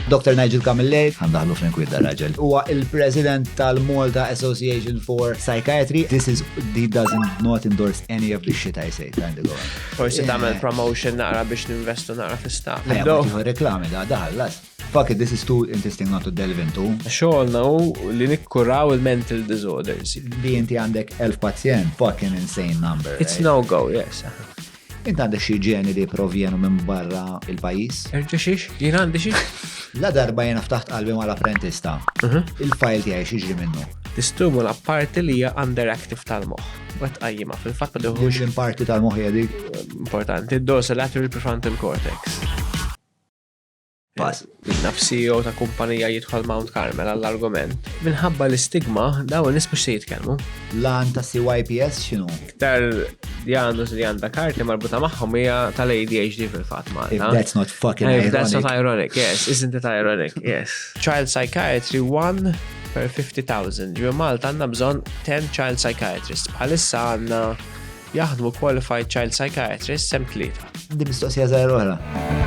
Dr. Nigel Camilleri, għandaħlu Frank Widda raġel, huwa il-President tal-Malta Association for Psychiatry. This is, he doesn't not endorse any of the shit I say, kind of Forsi tagħmel promotion naqra biex ninvestu naqra fista. Ħajja, reklami da daħallas. Fuck it, this is too interesting not to delve into. Xogħolna hu li nikkuraw il-mental disorders. Li inti għandek elf pazjent, fucking insane number. It's no go, yes. Int għandek xi ġeni li jipprovjenu minn barra il-pajjiż? Erġa' xiex? Jien għandi xi? La darba jiena ftaħt qalbi mal-apprentice ta', il-fajl tiegħi x'jiġri minnu? Tistimula parti li hija underactive tal-moħħ. U qed tqajjimha, fil-fatt ma tieħux. Liema parti tal-moħħ hija dik? Importanti, d-dorsolateral prefrontal cortex. pass. Naf CEO ta' kumpanija jidħol Mount Carmel għall-argument. Minħabba l-istigma, daw nis mux se jitkelmu. Lan ta' CYPS xinu? Iktar li għandu li għanda karti marbuta maħħom hija tal-ADHD fil-fat ma. If that's not fucking ironic. If that's not ironic, yes. Isn't it ironic, yes. Child Psychiatry 1 per 50,000. Ġu Malta għanna bżon 10 child psychiatrists. Bħalissa għanna Jaħdmu Qualified Child Psychiatrist sem tlieta. Di mistoqsija żgħira oħra.